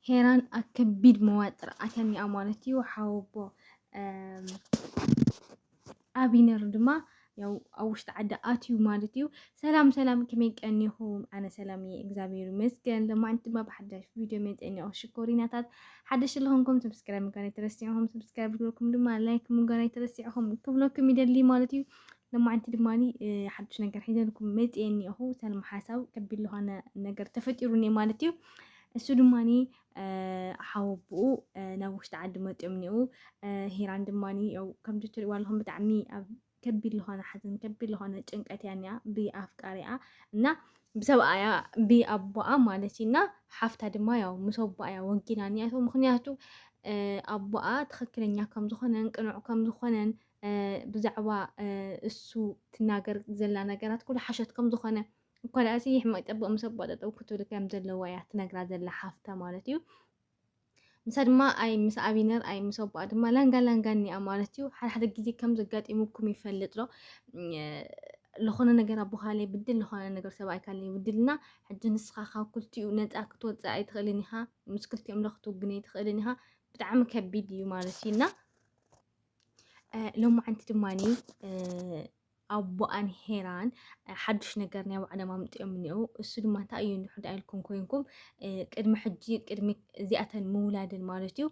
ሄራን ኣብ ከቢድ መዋጥር ኣትያኒኣ ማለት እዩ ሓወቦ ኣቢነር ድማ ያው ኣብ ውሽጢ ዓዲ ኣትዩ ማለት እዩ ሰላም ሰላም ከመይ ቀኒኹም ኣነ ሰላም እየ እግዚኣብሔር ይመስገን ለማዓንቲ ድማ ብሓዳሽ ቪድዮ መፀኒኦ ሽኮሪናታት ሓደሽ ለኹንኩም ሰብስክራይብ ምጋር ኣይተረሲዕኹም ሰብስክራይብ ግበርኩም ድማ ላይክ ምጋር ኣይተረሲዕኹም ክብለኩም ይደሊ ማለት እዩ ለማዓንቲ ድማ ሓዱሽ ነገር ሒዘልኩም መፅኤ እኒኦኹ ሰልማ ሓሳብ ከቢድ ዝኾነ ነገር ተፈጢሩ እኒኦ ማለት እዩ እሱ ድማ ሓወብኡ ናብ ውሽጢ ዓዲ መፅኦም እኒኡ ሂራን ድማ ያው ከምዚ ትሪእዋ ኣለኹም ብጣዕሚ ኣብ ከቢድ ዝኾነ ሓዘን ከቢድ ዝኾነ ጭንቀት እያ እኒኣ ብኣፍቃሪኣ እና ብሰብኣያ ብኣቦኣ ማለት እዩ እና ሓፍታ ድማ ያው ምስ ኣቦኣ እያ ወጊና እኒኣቶ ምክንያቱ ኣቦኣ ትክክለኛ ከምዝኾነን ቅኑዕ ከምዝኾነን ብዛዕባ እሱ ትናገር ዘላ ነገራት ኩሉ ሓሸት ከም ዝኾነ እኳ ደኣሲ ሕማቅ ጠብቅ ምስ ኣቦኣ ጠጠው ክትብል ከም ዘለዋ እያ ትነግራ ዘላ ሓፍታ ማለት እዩ። ንሳ ድማ ኣይ ምስ ኣቢነር ኣይ ምስ ኣቦኣ ድማ ላንጋ ላንጋ እኒኣ ማለት እዩ። ሓደ ሓደ ግዜ ከም ዘጋጢሙኩም ይፈልጥ ዶ ዝኾነ ነገር ኣቦኻለይ ብድል ዝኾነ ነገር ሰብኣይካለይ ብድልና ሕጂ ንስኻ ካብ ክልቲኡ ነፃ ክትወፅእ ኣይትኽእልን ኢኻ ምስ ክልቲኦም ዶ ክትውግን ኣይትኽእልን ኢኻ ብጣዕሚ ከቢድ እዩ ማለት እዩ እና ሎማዓንቲ ድማ ኣቦኣን ሄራን ሓዱሽ ነገር ናይ ባዕሎም ኣምፅኦም እኒኦ እሱ ድማ እንታይ እዩ ንሕዳ ኢልኩም ኮይንኩም ቅድሚ ሕጂ ቅድሚ እዚኣተን ምውላድን ማለት እዩ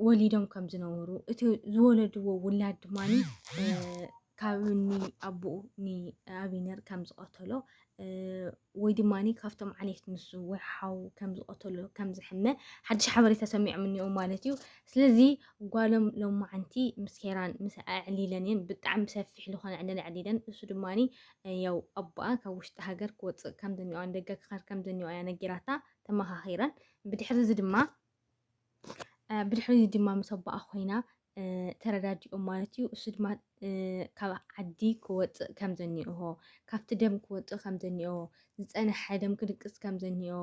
ወሊዶም ከም ዝነበሩ እቲ ዝወለድዎ ውላድ ድማ ካብ ኣቦኡ ንኣብነር ከም ዝቐተሎ ወይ ድማ ካብቶም ዓሌት ንሱ ወይ ሓው ከም ዝቐተሎ ከም ዝሕመ ሓድሽ ሓበሬታ ሰሚዖም እኒኦም ማለት እዩ ስለዚ ጓሎም ሎማዓንቲ ምስ ሄራን ምስ ኣዕሊለን እየን ብጣዕሚ ሰፊሕ ዝኾነ ዕለል ኣዕሊለን እሱ ድማ ያው ኣቦኣ ካብ ውሽጢ ሃገር ክወፅእ ከም ዘኒኦ ንደገ ክኸር ከም ዘኒኦ እያ ነጊራታ ተመኻኺረን ብድሕሪ እዚ ድማ ብድሕሪ እዚ ድማ ምስ ኣቦኣ ኮይና ተረዳዲኦም ማለት እዩ። እሱ ድማ ካብ ዓዲ ክወፅእ ከም ዘኒኦሆ ካብቲ ደም ክወፅእ ከም ዘኒኦ ዝፀነሐ ደም ክድቅስ ከም ዘኒኦ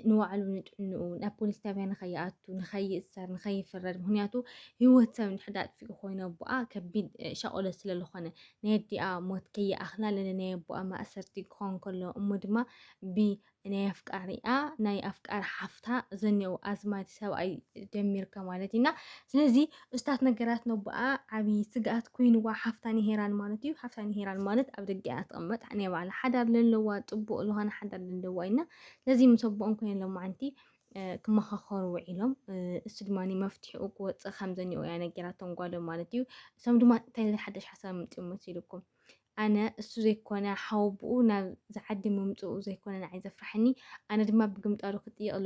ንባዕሉ ንጥዕንኡ ናብ ፖሊስ ጣብያ ንኸይኣቱ ንኸይእሰር ንኸይፍረድ ምክንያቱ ህይወት ሰብ ንሕዳ ኣጥፊኡ ኮይኑ ኣቦኣ ከቢድ ሻቆሎ ስለዝኾነ ናይ ኣዲኣ ሞት ከይኣኽላ ለለናይ ኣቦኣ ማእሰርቲ ክኾን ከሎ እሞ ድማ ናይ ኣፍቃሪኣ ናይ ኣፍቃሪ ሓፍታ ዘኔው ኣዝማድ ሰብኣይ ደሚርካ ማለት ኢና ስለዚ እስታት ነገራት ነቦኣ ዓብዪ ስግኣት ኮይንዋ ሓፍታ ንሄራን ማለት እዩ ሓፍታ ንሄራን ማለት ኣብ ደገ እያ ትቕመጥ ናይ ባዕላ ሓዳር ዘለዋ ፅቡቕ ዝኾነ ሓዳር ዘለዋ ኢና ስለዚ ምስ ኣቦኦም ኮይነ ሎማዓንቲ ክመኻኸሩ ውዒሎም እሱ ድማ መፍትሒኡ ክወፅእ ከም ዘኒኦ እያ ነጊራቶም ጓሎም ማለት እዩ እሶም ድማ እንታይ ሓደሽ ሓሳብ ምፅኡ መሲልኩም ኣነ እሱ ዘይኮነ ሓወቡኡ ናብዚ ዓዲ ምምጽኡ ዘይኮነ ንዓይ ዘፍርሓኒ፣ ኣነ ድማ ብግምጣሉ ክጥይቐሉ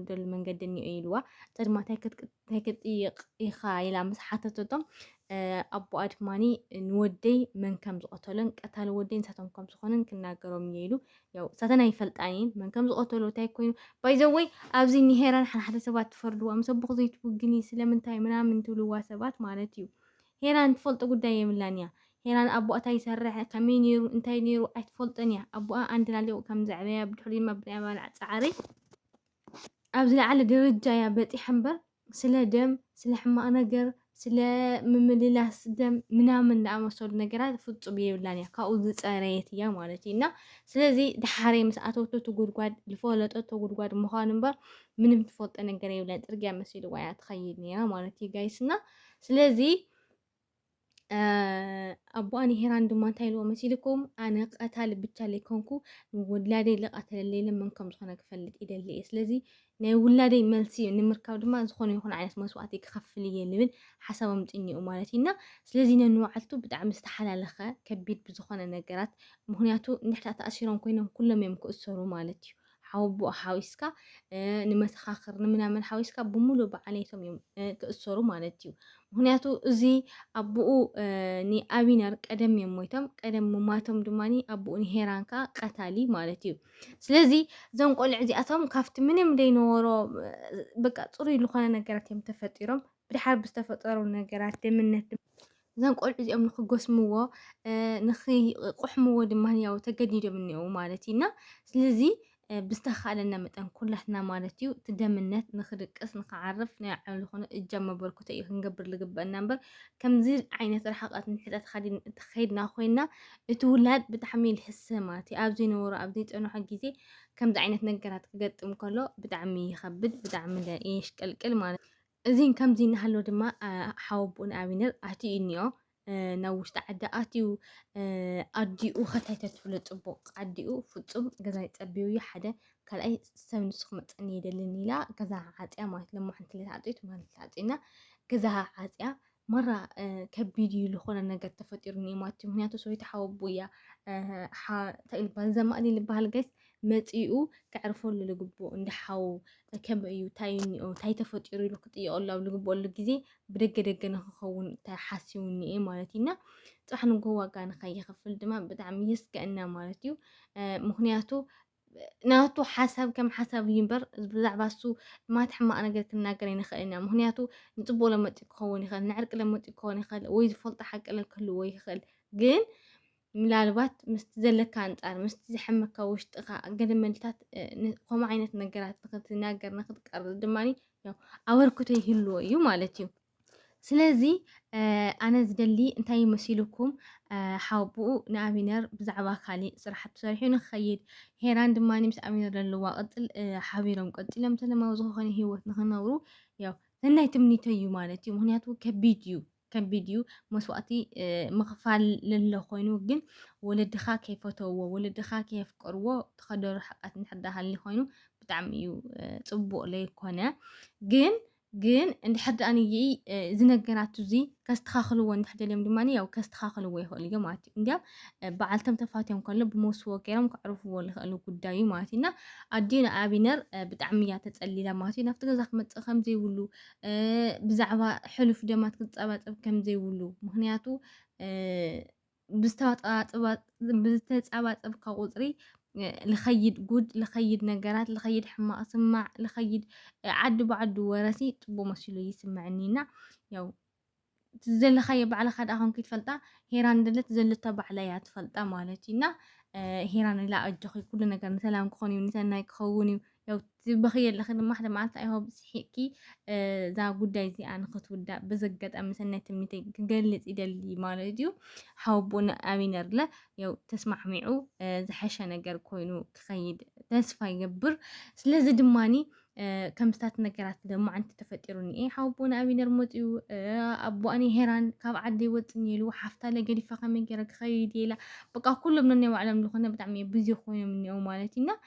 ዝደሉ መንገዲ እኒኦ ኢልዋ። ጸድማ ታይ ክትጥይቕ ኢኻ ኢላ ምስ ሓተተቶ፣ ኣቦኣ ድማ ንወደይ መን ከም ዝቐተሎን ቀታሊ ወደይ ንሳቶም ከም ዝኾነን ክናገሮም እየ ኢሉ። ያው እሳተን ኣይፈልጣን እየን መን ከም ዝቐተሎ ታይ ኮይኑ ባይዘወይ ኣብዚ ንሄራን ሓንሓደ ሰባት ትፈርድዋ ምስ ኣቦኹ ዘይትውግኒ ስለምንታይ ምናምን ትብልዋ ሰባት ማለት እዩ ሄራን ትፈልጦ ጉዳይ የብላን እያ ሄራን ኣቦኣ እንታይ ይሰርሕ ከመይ ነይሩ እንታይ ነይሩ ኣይትፈልጦን እያ ኣቦኣ ኣንድ ላሊቁ ከም ዘዕበያ ብድሕሪ ድማ ብናይ ኣባልዓ ጻዕሪ ኣብ ዝለዓለ ደረጃ እያ በጺሓ እምበር ስለ ደም ስለ ሕማቅ ነገር ስለ ምምልላስ ደም ምናምን ዝኣመሰሉ ነገራት ፍጹም የብላን እያ ካብኡ ዝጸረየት እያ ማለት እዩ እና ስለዚ ድሓረይ ምስ ኣተወቶ ትጉድጓድ ዝፈለጠቶ ጉድጓድ ምዃኑ እምበር ምንም ትፈልጦ ነገር የብለን ጽርግያ መሲልዋ እያ ትኸይድ ነይራ ማለት እዩ ጋይስና ስለዚ ኣቦኣ ንሄራን ድማ እንታይ ኢልዎ መሲልኩም ኣነ ቀታሊ ብቻ ዘይኮንኩ ንውላደይ ልቐተለለይ ለመን ከም ዝኾነ ክፈልጥ ይደሊ እየ ስለዚ ናይ ውላደይ መልሲ ንምርካብ ድማ ዝኾነ ይኹን ዓይነት መስዋእቲ ክኸፍል እየ ልብል ሓሳቦም ጥኝኡ ማለት እዩና ስለዚ ነንባዕልቱ ብጣዕሚ ዝተሓላለኸ ከቢድ ብዝኾነ ነገራት ምክንያቱ ንሕታ ተኣሲሮም ኮይኖም ኩሎም እዮም ክእሰሩ ማለት እዩ ሓወቦኡ ሓዊስካ ንመሰኻኽር ንምናምን ሓዊስካ ብምሉእ ብዓሌቶም እዮም ክእሰሩ ማለት እዩ። ምክንያቱ እዚ ኣቦኡ ንኣቢነር ቀደም እዮም ሞይቶም፣ ቀደም ሙማቶም ድማ ኣቦኡ ንሄራን ከዓ ቀታሊ ማለት እዩ። ስለዚ እዞም ቆልዑ እዚኣቶም ካብቲ ምንም ዘይነበሮ በቃ ፅሩይ ዝኾነ ነገራት እዮም ተፈጢሮም ብድሓር ብዝተፈጠሩ ነገራት ደምነት እዞም ቆልዑ እዚኦም ንክጎስምዎ ንክቆሕምዎ ድማ ያው ተገዲዶም እኒኦው ማለት እዩ እና ስለዚ ብዝተኻእለና መጠን ኩላትና ማለት እዩ እቲ ደምነት ንክድቅስ ንክዓርፍ ናይ ዓሉ ዝኾነ እጃም መበርክቶ እዩ ክንገብር ዝግበአና እምበር ከምዚ ዓይነት ርሓቐት ንሕተ ተኸይድና ኮይና እቲ ውላድ ብጣዕሚ ልሕሰ ማለት እዩ ኣብ ዘይነበሮ ኣብ ዘይፀንሖ ግዜ ከምዚ ዓይነት ነገራት ክገጥም ከሎ ብጣዕሚ ይኸብድ ብጣዕሚ የሽቀልቅል ማለት እዩ እዚን ከምዚ እናሃሎ ድማ ሓወቦኡ ንኣብነር ኣትዩኒኦ ናብ ውሽጢ ዓዲ ኣትዩ ኣዲኡ ከታይ ተትብሎ ፅቡቕ ኣዲኡ ፍፁም ገዛይ ፀቢቡ እዩ ሓደ ካልኣይ ሰብ ንሱ ክመፀኒ የደልን ኢላ ገዛ ዓፅያ ማለት ለሞ ሓንቲ ለተዓፅዩት ማለት ተዓፅዩና ገዛ ዓፅያ ማራ ከቢድ እዩ ዝኾነ ነገር ተፈጢሩ እኒኦ ማለት እዩ ምክንያቱ ሰበይቲ ሓወቡ እያ እንታይ ልባል ዘማእዲ ልበሃል ጋይስ መፂኡ ከዕርፈሉ ልግብኦ እንደ ሓው ከመይ እዩ እንታይ እኒኦ እንታይ ተፈጢሩ ኢሉ ክጥየቀሉ ኣብ ልግብኦሉ ግዜ ብደገ ደገ ንክኸውን ሓሲቡ እኒኤ ማለት እዩ እና ፅባሕ ንጎ ዋጋ ንከይኸፍል ድማ ብጣዕሚ የስገእና ማለት እዩ ምክንያቱ ናቱ ሓሳብ ከም ሓሳብ እዩ እምበር ብዛዕባ እሱ ማት ሕማቕ ነገር ክንናገር ኣይንኽእልን ኢና ምክንያቱ ንፅቡቅ ለመፂኡ ክኸውን ይኽእል ንዕርቂ ለመፂኡ ክኸውን ይኽእል ወይ ዝፈልጦ ሓቂ ክህልዎ ይኽእል ግን ምናልባት ምስቲ ዘለካ ኣንፃር ምስቲ ዝሐመካ ውሽጥኻ ገለ መልታት ከምኡ ዓይነት ነገራት ንክትናገር ንክትቀርብ ድማ ኣበርክቶ ይህልዎ እዩ ማለት እዩ ስለዚ ኣነ ዝደሊ እንታይ መሲሉኩም ሓውብኡ ንኣቢነር ብዛዕባ ካሊእ ስራሕቲ ሰሪሑ ንክኸይድ ሄራን ድማ ምስ ኣቢነር ዘለዋ ቅፅል ሓቢሮም ቀፂሎም ሰለማዊ ዝኾነ ሂወት ንክነብሩ ያው ሰናይ ትምኒቶ እዩ ማለት እዩ። ምክንያቱ ከቢድ እዩ ከቢድ እዩ መስዋእቲ ምኽፋል ለለ ኮይኑ ግን ወለድኻ ከይፈተውዎ ወለድኻ ከየፍቀርዎ ተኸደሩ ሓቃት እንድሕር ኮይኑ ብጣዕሚ እዩ ፅቡቅ ለይኮነ ግን ግን እንድሕር ደኣ እዚ ነገራት እዚ ከስተኻኽልዎ እንድሕር ደልዮም ድማ ያው ከስተኻኽልዎ ይኽእሉ እዮም ማለት እዩ እንዲያም በዓልቶም ተፋትዮም ከሎ ብመውስቦ ገይሮም ከዕርፍዎ ዝኽእሉ ጉዳይ እዩ ማለት እዩ እና ኣዲኡ ንኣብነር ብጣዕሚ እያ ተፀሊላ ማለት እዩ ናብቲ ገዛ ክመፅእ ከምዘይብሉ ብዛዕባ ሕሉፍ ደማት ክፀባፀብ ከምዘይብሉ ምክንያቱ ብዝተፃባፀብካ ቁፅሪ ልኸይድ ጉድ ልኸይድ ነገራት ልኸይድ ሕማቕ ስማዕ ልኸይድ ዓዲ ብዓዱ ወረሲ ፅቡቅ መሲሉ ይስምዐኒ እና ያው ዘለኻዮ ባዕልኻ ደኣ ኮንኪ ትፈልጣ ሄራን ደለት ዘለታ ባዕላ እያ ትፈልጣ ማለት እዩ እና ሄራን ኢላ ኣጆኺ ኩሉ ነገር ንሰላም ክኾን እዩ ንሰናይ ክኸውን እዩ ያው ትበኽይ ኣለኺ ድማ ሓደ መዓልቲ ኣይሆብ ስሒቕኪ እዛ ጉዳይ እዚኣ ንክትውዳእ በዚ ኣጋጣሚ ሰናይ ትምኒተይ ክገልጽ ይደሊ ማለት እዩ ሓወቦን ኣቢነርለ ያው ተስማዕሚዑ ዝሐሸ ነገር ኮይኑ ክኸይድ ተስፋ ይገብር ስለዚ ድማኒ ከምስታት ነገራት ደሞ ዓንቲ ተፈጢሩኒ እየ ሓወቦን ኣቢነር መፅኡ ኣቦኣኒ ሄራን ካብ ዓዲ ይወፅኒ ኢሉ ሓፍታ ለገዲፋ ከመይ ገይረ ክኸይድ ኢላ በቃ ኩሎም ነናይ ባዕሎም ዝኾነ ብጣዕሚ ብዙ ኮይኖም እኒኦ ማለት እዩና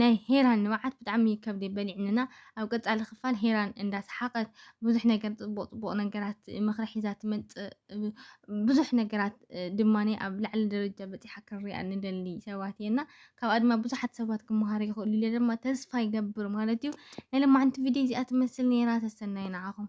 ናይ ሄራን ንብዓት ብጣዕሚ ከብዲ በሊዕንና ኣብ ቀፃሊ ክፋል ሄራን እንዳሰሓቀት ብዙሕ ነገር ፅቡቅ ፅቡቅ ነገራት ምኽሪ ሒዛ ትመፅእ ብዙሕ ነገራት ድማ ኣብ ላዕሊ ደረጃ በፂሓ ክንሪኣ ንደሊ ሰባት እየና ካብኣ ድማ ብዙሓት ሰባት ክመሃሩ ይኽእሉ ኢለ ድማ ተስፋ ይገብር ማለት እዩ ናይ ለማዓንቲ ቪድዮ እዚኣ ትመስል ነይራ ተሰናይ ንዓኹም